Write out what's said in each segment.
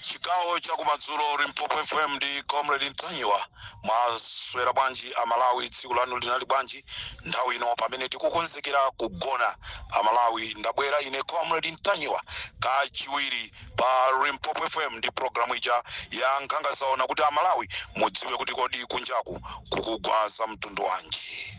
chigawo chakumadzulo limpopo fm ndi comrade ntanyiwa mwaswera bwanji amalawi tsiku lanu linali bwanji nthawi ino pamene tikukonzekera kugona amalawi ndabwera ine comrade ntanyiwa kachiwiri pa limpopo fm ndi programu ija ya nkhangazaona kuti amalawi mudziwe kuti kodi kunjaku kukugwa za mtundu wanji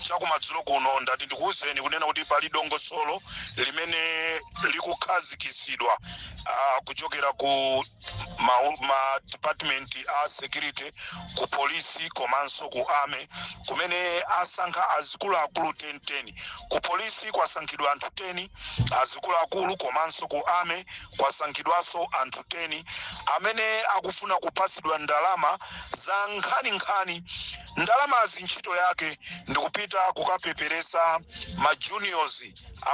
chakumadzulo kuno ndati ndikuwuzeni kunena kuti pali dongosolo limene likukhazikitsidwa ah, kuchokera ku ma, ma department a security ku polisi komanso ku army kumene asankha azikuluakulu 10 10 ku polisi kwasankhidwa anthu 10 azikuluakulu komanso ku army kwasankhidwaso anthu 10 amene akufuna kupasidwa ndalama za nkhaninkhani. Ndalamazi ntchito yake ndikupita kukapeperesa ma juniors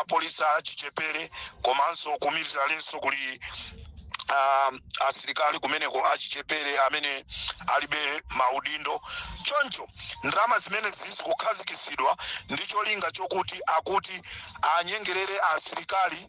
apolisi achichepere komanso ku militarenso kuli uh, asilikali kumeneko achichepere amene alibe maudindo choncho ndalama zimenezi zikukhazikisidwa ndi cholinga chokuti akuti anyengerere asilikali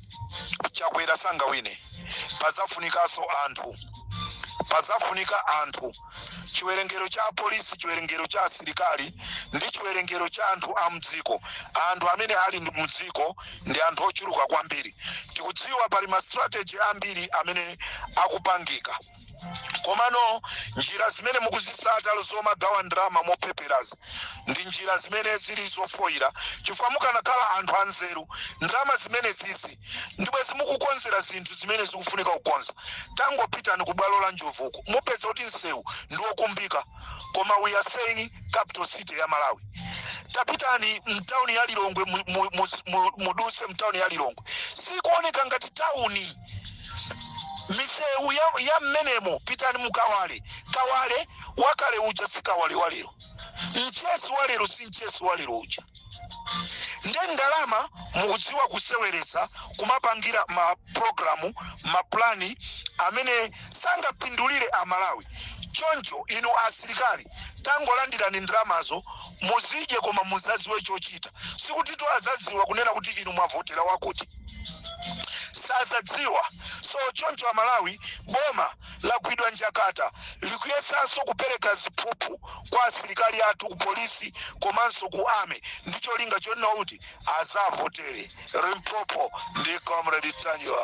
chakwera sangawine pazafunikaso anthu pazafunika anthu chiwerengero cha apolisi chiwerengero cha asilikali ndi chiwerengero cha anthu a mdziko anthu amene ali ndi mdziko ndi anthu ochuluka kwambiri tikudziwa pali ma strategy ambiri amene akupangika komano njira zimene mukuzisata zomagawa ndalama mopeperazi ndi njira zimene zili zofoyira chifukwa mukanakhala anthu anzeru ndalama zimenezizi ndibwezi mukukonzera zinthu zimene zikufunika kukonza tangopitani ku bwalo la njobvuku mupeza kuti msewu ndi wokumbika koma we are saying capital city ya malawi tapitani mtauni ya lilongwe mu- mu- mu- mu- muduse mtauni ya lilongwe sikuoneka ngati tauni misewu ya, ya mmenemo pitani mu kawale kawale wakale uja si kawale wa lero mchesi wa lero si mchesi wa lero uja nde ndalama mukudziwa kuseweresa kumapangira maprogramu mapulani amene sangapindulire amalawi choncho inu asilikali tangolandirani ndalamazo muzidye koma muzaziwe chochita sikutitu azaziwa kunena kuti inu mwavotera wakuti sazadziwa so choncho amalawi boma lagwidwa njakata likuyesanso kupereka ziphuphu kwa asilikali athu ku polisi komanso ku army ndi cholinga chonena kuti azavotere limpopo ndi comrade ntanyiwa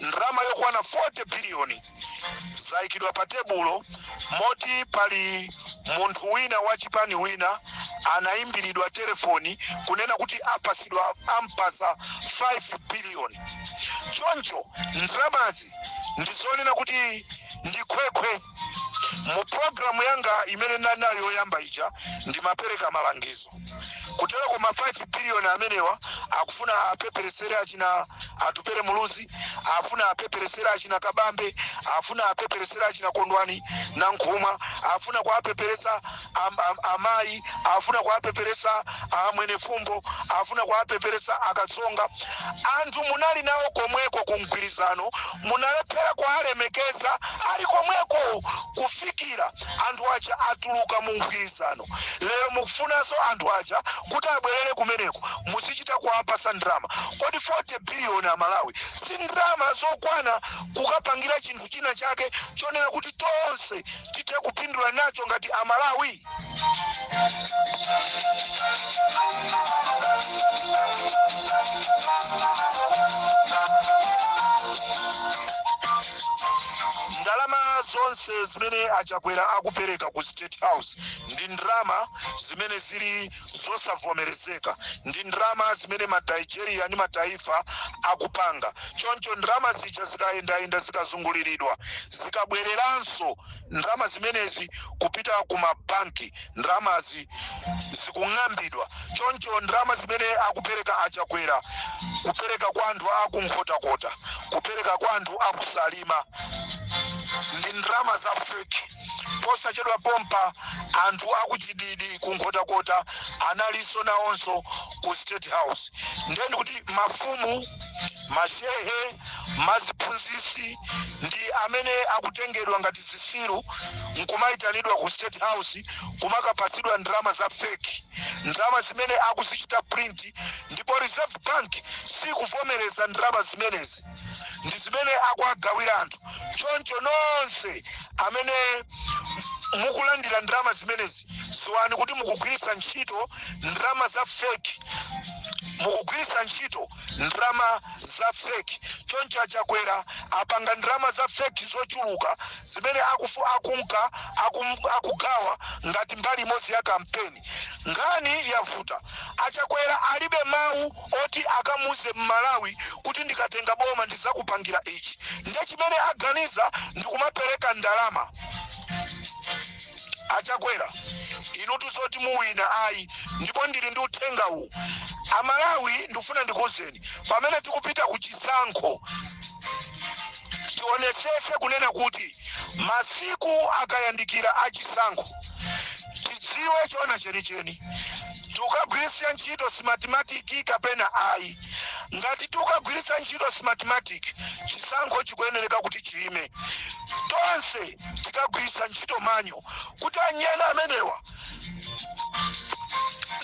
ndalama yokwana 40 biliyoni zayikidwa pa tebulo moti pali munthu wina wa chipani wina anayimbiridwa telefoni kunena kuti apasidwa ampasa 5 biliyoni choncho ndalamazi ndizonena kuti ndi khwekhwe mu programu yanga imene ndinali nayo yoyamba ija ndimapereka malangizo kutero koma 5 billion amenewa akufuna apeperesere achina atupere muluzi afuna apeperesere achina kabambe afuna apeperesere achina Kondwani Nankhumwa afuna kuapeperesa am, am, amayi afuna kuwapeperesa a Mwenefumbo afuna kuwapeperesa a Katsonga anthu munali nawo komweko ku mgwirizano munalephera kuwalemekeza ali komweko kufikira anthu aja atuluka mu mgwirizano lero mukufunanso anthu aja kuti abwerere kumeneko muzichita kuwapasa ndalama kodi 40 biliyoni amalawi si ndalama zokwana kukapangira chinthu china chake chonena kuti tonse tithe kupindula nacho ngati Amalawi? ndalama zonse zimene a Chakwera akupereka ku state house ndi ndalama zimene zili zosavomerezeka ndi ndalama zimene ma Nigeria ndi ma Taifa akupanga. Choncho ndalama zija zikayendayenda zikazunguliridwa zikabwereranso ndalama zimenezi kupita ku mabanki, ndalamazi zikung'ambidwa. Choncho ndalama zimene akupereka a Chakwera, kupereka kwa anthu a ku Nkhotakota, kupereka kwa anthu a ku Salima ndi ndalama za feki. Posachedwa pompa, anthu a ku Chididi ku Nkhotakota analinso nawonso ku State House. Ndiye ndi kuti mafumu, mashehe, maziphunzisi ndi amene akutengedwa ngati zisiru nkumaitanidwa ku State House kumakapasidwa ndalama za fake, ndalama zimene akuzichita print ndipo Reserve Bank sikuvomereza ndalama zimenezi. ndi zimene akuwagawira anthu choncho nonse amene mukulandira ndalama zimenezi dziwani kuti mukugwiritsa ntchito ndalama za feki mukugwiritsa ntchito ndalama za feki choncho a Chakwera apanga ndalama za feki zochuluka zimene akufu akunka akum, akugawa ngati mbali imodzi ya kampeni nkhani yavuta a Chakwera alibe mawu oti akamuuze mmalawi kuti ndikatenga boma ndizakupangira ichi nde chimene aganiza ndikumapereka ndalama achakwera inutu zoti muwina ayi ndipo ndili ndi uthenga uwu amalawi ndikufuna ndikuuzeni pamene tikupita ku chisankho tionesese kunena kuti Masiku akayandikira a chisankho, tidziwe choona chenicheni. Tikukagwiritsa ntchito Smartmatic kapena ayi? Ngati tikukagwiritsa ntchito Smartmatic, chisankho chikuyenereka kuti chiime. Tonse tikagwiritsa ntchito manual kuti anyani amenewa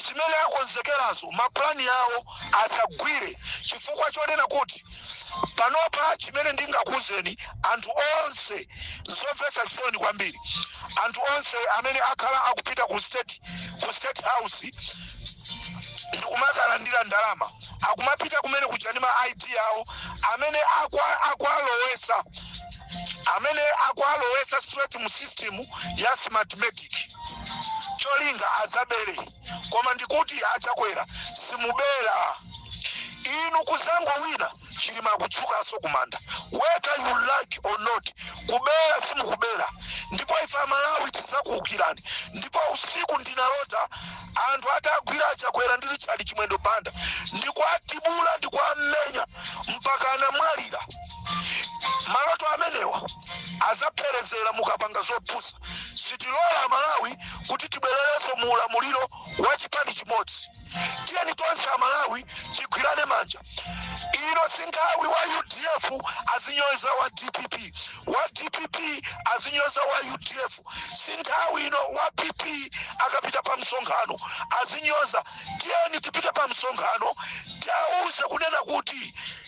zimene akonzekerazo, mapulani awo asagwire chifukwa chonena kuti. panopa chimene ndingakuuzeni anthu onse zomvetsa chisoni kwambiri anthu onse amene akhala akupita ku state house ndikumakalandira ndalama akumapita kumene kuja ndi ma id awo amene akwa- akwalowesa amene akwalowesa straight mu system ya smartmatic cholinga azabere koma ndikuti achakwera simubera inu kuzangowina chilima akutsukaso kumanda whether you like or not kubera simukubera ndipo ife amalawi tizakuukirani ndipo usiku ndinalota anthu atagwira achakwera ndi richard chimwendo banda ndikuatibula ndikuamenya mpaka anamwalira maloto amenewa azapherezera mukapanga zopusa sitilola amalawi kuti tibwererenso mu ulamuliro wa chipani chimodzi tiyeni tonse amalawi tigwirane manja ino si nthawi wa udf azinyoza wa dpp wa dpp azinyoza wa udf si nthawi ino wa pp akapita pa msonkhano azinyoza tiyeni tipite pa msonkhano tiwauze kunena kuti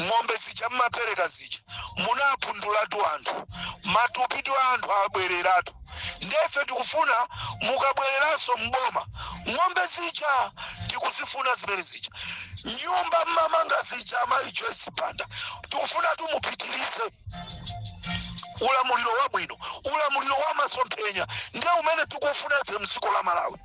ng'ombe zija mmapereka zija munapindulatu anthu matupitu a anthu abwereratu ndefe tikufuna mukabwereranso mboma ng'ombe zija tikuzifuna zimene zija nyumba mmamanga zija amayi joyce banda tikufunatu mupitirize ulamuliro wabwino ulamuliro wa masomphenya ndiye umene tikufuna ife mdziko la malawi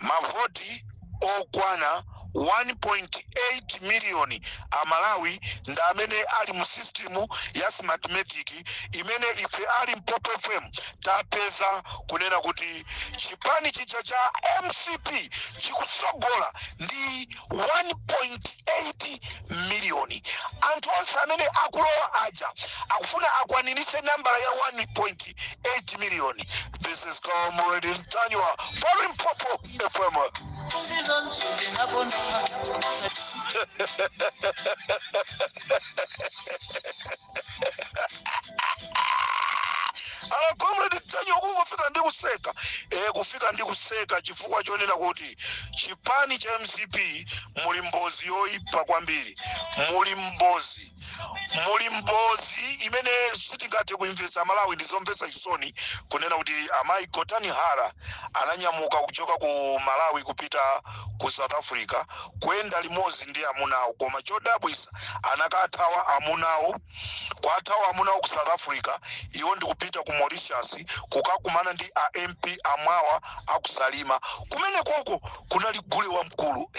mavoti okwana 1.8 miliyoni amalawi ndi amene ali mu sistimu ya smartmatic imene ife a limpopo fm tapeza kunena kuti chipani chija cha mcp chikusogola ndi 1.8 miliyoni. Anthu onse amene akulowa aja akufuna akwaniritse nambala ya 1.8 miliyoni. This is Comrade Ntanyiwa pa Limpopo FM. ala comrade ntanyiwa kufika ndi kuseka kufika ndi kuseka chifukwa chonena kuti chipani cha mcp muli mbozi yoyipa kwambiri muli mbozi muli mbozi imene sitingathe kuimvesa malawi ndizomvesa chisoni kunena kuti amayi gotani hara ananyamuka kuchoka ku malawi kupita ku south africa kuyenda limodzi ndi amuna awo koma chodabwisa anakathawa amunawo kuwathawa amunawo ku south africa iwo ndikupita ku mauritius kukakumana ndi a mp a mwawa aku salima kumene koko kunali gule wamkulu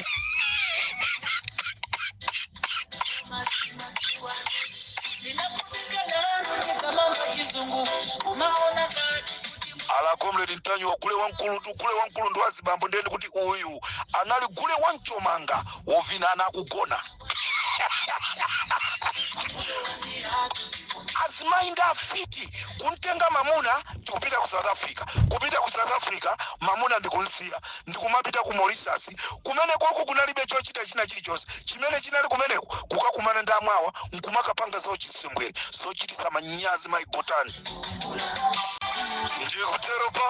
ala comrade ntanyiwa gule wamkulu tu gule wamkulu ndi wazibambo ndiye kuti uyu anali gule wamchomanga wovina ana akugona azimayi ndi afiti kumtenga mamuna ndikupita ku south africa kupita ku south africa mamuna ndikumsiya ndikumapita ku mauritius kumene koko kunalibe chochita china chilichonse chimene chinali kumeneko kukakumana ndi a mwawa nkumakapanga zawo chisembwere zochitisa manyazi mai gotani ndikutero pa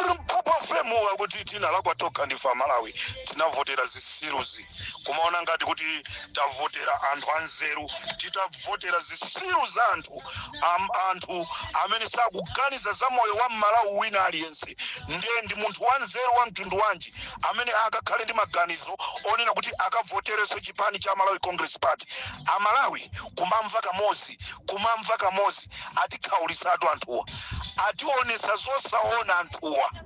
limpopo fm kuti tinalakwa tokha ife amalawi tinavotera zisiru izi kumaona ngati kuti tavotera anthu anzeru titavotera zisiru za anthu anthu amene sakuganiza za moyo wa mmalawi wina aliyense ndiye ndi munthu wanzeru wa mtundu wanji amene akakhale ndi maganizo onena kuti akavoterenso chipani cha malawi congress party amalawi kumamva kamodzi kumamva kamodzi atikhaulitsatu anthuwa ationesa zosaona anthuwa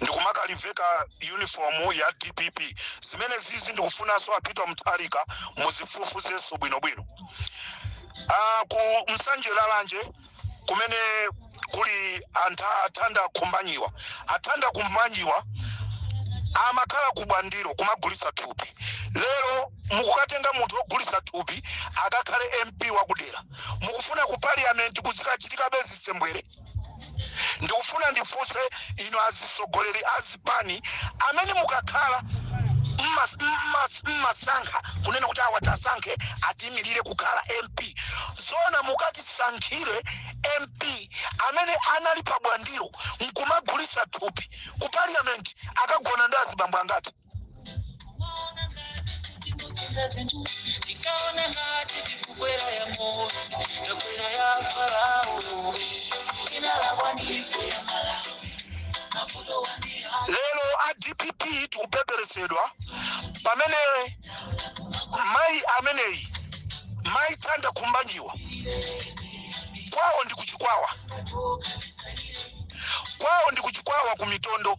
ndikumakaliveka uniform ya dpp zimene zizi ndikufunanso a peter mutharika muzifufuzenso bwinobwino ku nsanje lalanje kumene kuli antha a thanda khumbanyiwa a thanda khumbanyiwa amakhala kubwandiro kumagulisa thupi lero mukukatenga munthu ogulisa thupi akakhale mp wakudera mukufuna ku parliament kuzikachitikabe zisembwere ndikufuna ndifunse inu azisogoleri azipani amene mukakhala mmasankha kunena kuti awa tasankhe atiimirire kukhala mp zona mukatisankhire mp amene anali pa bwandiro nkumagulisa thupi ku parliament akagona ndi azibambo angati lero a dpp tikupeperetsedwa pamene mayi ameneyi mayi Thanda Khumbanyiwa kwawo ndi ku Chikwawa kwawo ndi ku Chikwawa ku Mitondo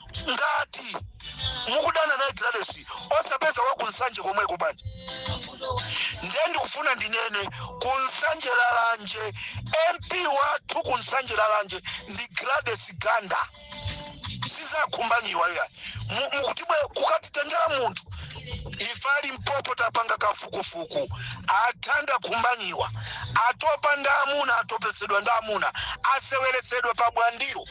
ngati mukudana naye Gladys osapeza wa ku Nsanje komweko bwanji ndiye ndikufuna ndinene ku Nsanje Lalanje mp wathu ku Nsanje Lalanje ndi Gladys Ganda si za Khumbanyiwa yayi mukuti bwe kukatitengera munthu ife ali mpopo tapanga kafukufuku a Thanda Khumbanyiwa atopa ndi amuna atopetsedwa ndi amuna aseweretsedwa pa Bwandilo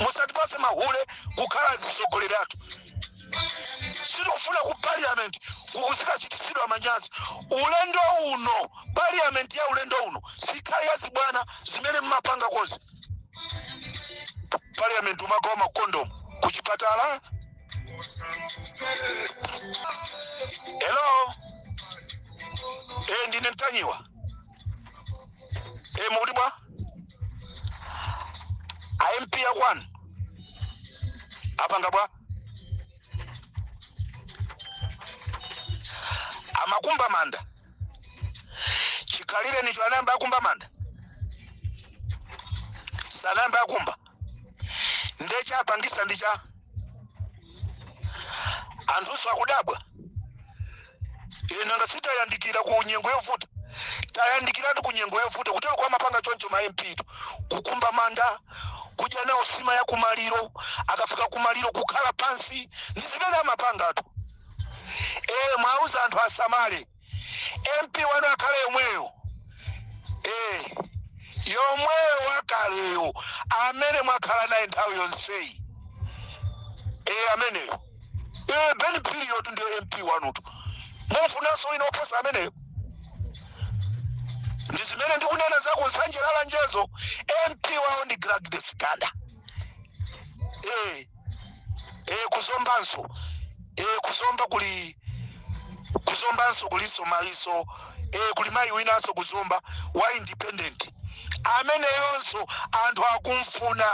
musatipatse mahule kukhala atsogoleri athu sitikufuna ku parliament kukuzikachititsidwa manyazi ulendo uno parliament ya ulendo uno sikhale yazibwana zimene mmapanga kuti parliament umagawa makondomu kuchipatala hello e ndine Ntanyiwa e mukuti bwa a mp a kwanu apanga bwa amakumba manda chikhalireni cho anayamba akumba manda sanayamba akumba nde chapangisa ndi cha anthunso akudabwa ine nanga sitayandikira ku nyengo yovuta tayandikiratu ku nyengo yovuta kuteroko amapanga choncho ma mp tu kukumba manda kudya nawo nsima ya kumaliro akafika kumaliro kukhala pansi ndi zimene amapangatu ee mwauza anthu asamale mp wanu akhale yomweyo eh, yomweyo wakaleyo amene mwakhala naye nthawi yonseyi eh, ameneyo eh, Ben Phiriyo ndiyo mp wanutu mumfunanso wina oposa ameneyo ndi zimene ndikunena za ku Nsanje Lalanjezo mp wawo ndi Gladys Ganda eh, eh ku Zombanso eh ku Zomba kuli ku Zombanso kulinso mayinso eh kuli mayi winanso ku Zomba wa independent ameneyonso anthu akumfuna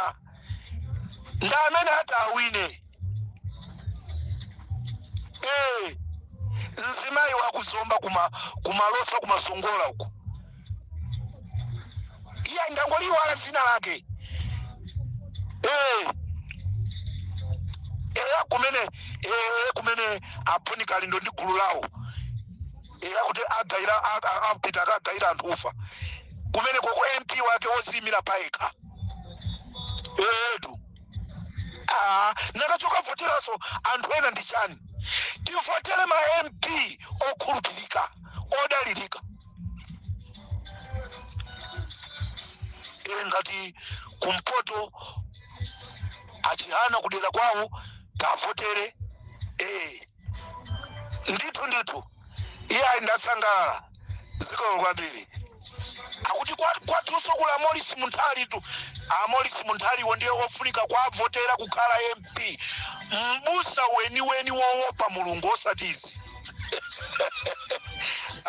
ndi amene ati awine eh mzimayi wa ku Zomba kuma ku Malosa kumasongola uko iya ndangoliwala zina lake Eh. eya kumene eh, kumene a Bon Kalindo ndi gulu lawo eya kuti agaira a- a- apita akagaira anthu ufa kumenekoko mp wake woziyimira payekha etu Ah, nakachoka voteraso anthu ena ndi chani tivotere ma mp okhulupirika odalirika eya ngati kumpoto a Chihana kudera kwawo tavotere ee ndithu ndithu iyayi ndasangalala zikomo kwambiri akuti kwa- kwatunso kuli a Maurice Munthalitu a Maurice Munthaliwo ndiye ofunika kwavotera kukhala mp P, m'busa weniweni wowopa mulungu osati izi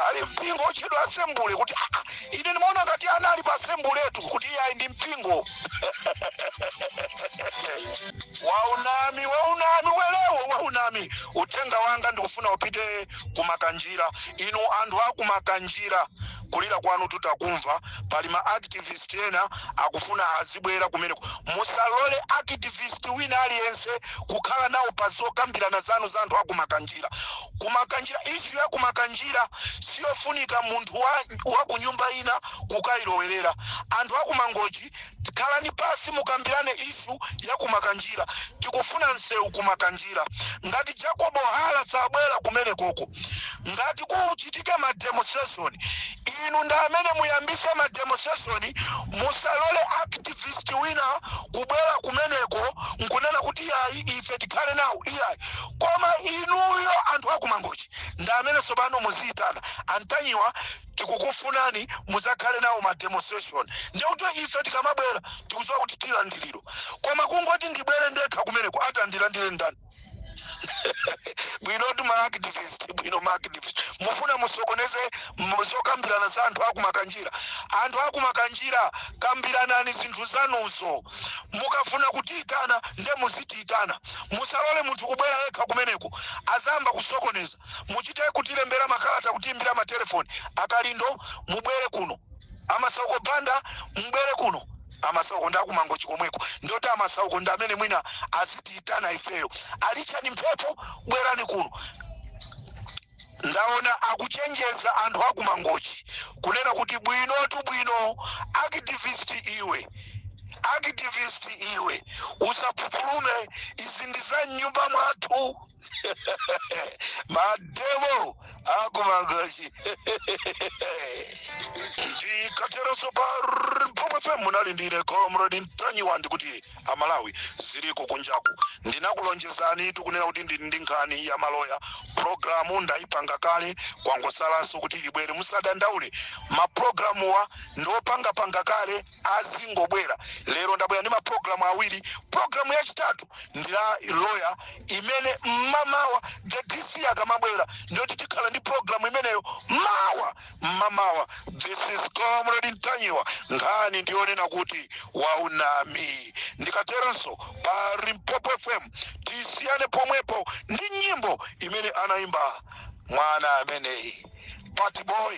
ali mpingo otchedwa asembule kuti "Ah, ah, ine ndimaona ngati anali pa asembuletu kuti iyayi ndi mpingo waunami waunami welewo waunami uthenga wanga ndikufuna upite kumakanjira inu anthu akumakanjira kulira kwanu tutakumva pali ma activist ena akufuna azibwera kumeneko musalole activist wina aliyense kukhala nawo pa zokambirana zanu za anthu akumakanjira kumakanjira issue ya kumakanjira siyofunika munthu wa, wa kunyumba ina kukayilowerera anthu akumangochi Khalani pasi mukambirane issue ya kumakanjira. Tikufuna nsewu ku makanjira. Ngati Jacob Hara sabwera kumenekoko ngati kuchitike ma demonstration inu ndi amene muyambise ma demonstration. Musalole activist wina kubwera kumeneko nkunena kuti iyayi ife tikhale nawo iyayi. Koma inuyo anthu a ku Mangochi ndi amene tsopano muziitana a Ntanyiwa. tikukufunani muzakhale nawo ma demonstration ndikuti ife tikamabwera tikuziwa kuti tilandiliro koma kungoti ndibwere ndekha kumeneko atandilandire ndani bwinotu maactivist bwino maactivist mufuna musokoneze mu- zokambirana za anthu akumakanjira anthu akumakanjira kambiranani zinthu zanuzo mukafuna kutiyitana nde muzitiyitana musalole munthu kubwera yekha kumeneko azayamba kusokoneza Muchite kutilembera makalata, kutiimbira matelefoni. A Kalindo, mubwere kuno. A Masauko Banda, mubwere kuno. A Masauko ndi a ku Mangochi komweko. Ndioti a Masauko ndi amene mwina azitiitana ifeyo. A Richard Mphepo, bwerani kuno. Ndaona akuchenjeza anthu a ku Mangochi kunena kuti bwinotu bwino, activist iwe activist iwe, usaphupulume, izi ndi za m'nyumba mwathu. mademo aku Mangochi ndikateronso pa limpopo fm munali ndine comrade mtanyiwa ndikuti amalawi ziliko kunjaku ndinakulonjezani zokunena kuti ndili ndi nkhani ya maloya programu ndayipanga kale kwangotsalanso kuti ibwere musadandaule maprogramuwa ndiopangapanga kale azingobwera lero ndabwera ndi maprogramu awiri programu yachitatu ndi ya loya imene mmamawa the dc akamabwera ndiyoti tikhala ndi programu imeneyo mawa mmamawa this is comrade mtanyiwa nkhani ndiyonena kuti waunama ndikateronso pa limpopo fm tisiyane pomwepo ndi nyimbo imene anayimba mwana ameneyi party boy